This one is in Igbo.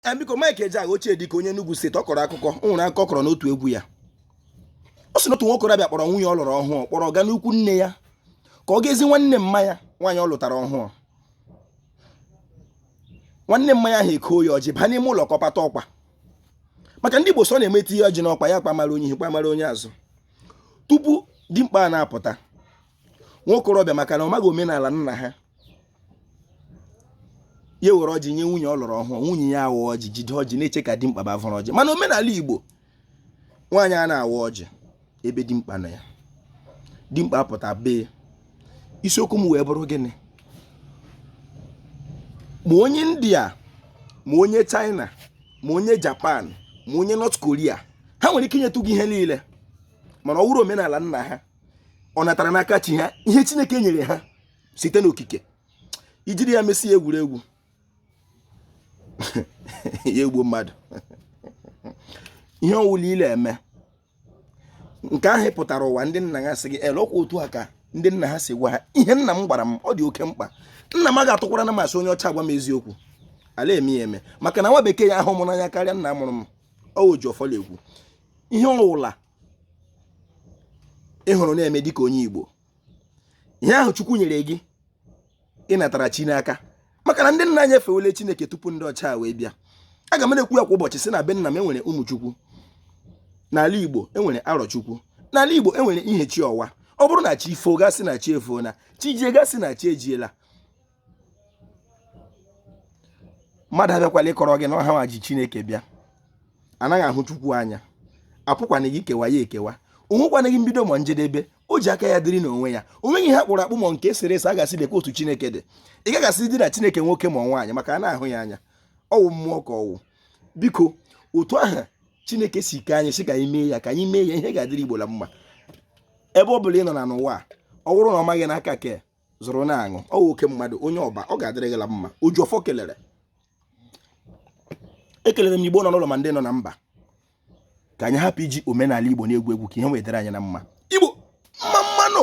Eh, biko Mike Ejeagha ochie dike onye Enugu steeti ọ kọrọ akụkọ o nwere akụkọ ọ kọrọ n'otu egwu ya ọ sị na otu nwa okorobịa kpọrọ nwunye ọ lụrụ ọhụụ kpọrọ gaa n'ikwu nne ya ka ọ gaa zi nwanne mma ya nwaanyị ọ lụtara ọhụụ nwanne mma ya ahụ ekoo ya ọjị baa n'ime ụlọ ka ọ pata ọkwa maka ndị Igbo sị na-eme etinye ọjị n'ọkwa ya kpamara onye ihu kpamara onye azụ tupu dimkpa a na-apụta nwa okorobịa maka na ọ maghị omenala nna ha ya were ọjị nye nwunye ọ lụrụ ọhụụ nwunye ya awa ọjị jide ọjị na-eche ka dimkpa bịa vuru ọjị mana omenala igbo nwaanyị anaghị awa ọjị ebe dimkpa nọ ya dimkpa apụta bee isiokwu m wee bụrụ gịnị ma onye india ma onye china ma onye japan ma onye north korea ha nwere ike inyetụ gị ihe niile mana ọ wụrụ omenala nna ha ọ natara n'aka chi ha ihe chineke nyere ha site n'okike i jiri ya mesie egwuregwu ya egbuo mmadụ ihe ọwụla ị le-eme nke ahụ pụtara ụwa ndị nna ha sị gị ele ọkwa otu a ka ndị nna ha si gwa ha ihe nna m gwara m ọ dị oke mkpa nna m ga-atụkwaranụ m asị onye ọcha agwa m eziokwu ala eme ya eme maka na nwa bekee ya ahụ m n'anya karịa nna mụrụ m ọ wụ oji ọfọ la-ekwu ihe ọwụla ị hụrụ na-eme dịka onye Igbo ihe ahụ chukwu nyere gị ị natara chi n'aka maka na ndị nna anyị efewele chineke tupu ndị ọcha wee bịa aga m na-ekwu ya kwa ụbọchị si na be nna m enwere ụmụchukwu n'ala igbo enwere arọchukwu n'ala igbo enwere ihechiọwa ọ bụrụ na chi foo a ga-asị na chi efola chi jie a ga-asị na chi ejiela mmadụ abịakwala ịkọrọ gị na ọ ha nwa ji chineke bịa anaghị ahụ chukwu anya a pụkwanaghị ikewa ya ekewa o nwekwanaghị mbido ma njedebe o ji aka ya dịrị n'onwe ya o nweghị ihe a kpụrụ akpụ ma nke e sere ese a ga-asị lekwa otu chineke dị ị gaghị asị dị na chineke nwoke ma nwaanyị maka anaghị ahụ ya anya ọwụ mmụọ ka ọwụ biko otu ahụ chineke si kee anyị sị ka anyị mee ya ka anyị mee ya ihe ga-adịrị igbo na mma ebe ọ bụla ị nọ na n'ụwa ọ bụrụ na ọ maghị n'aka ke zụrụ na-aṅụ ọ wụ oke mmadụ onye ọba ọ ga-adịrị gị la mma oji ọfọ kelere ekelere m igbo nọ n'ụlọ ma ndị nọ na mba ka anyị hapụ iji omenala igbo na-egwu egwu ka ihe wee dịrị anyị na mma igbo mma mma nụ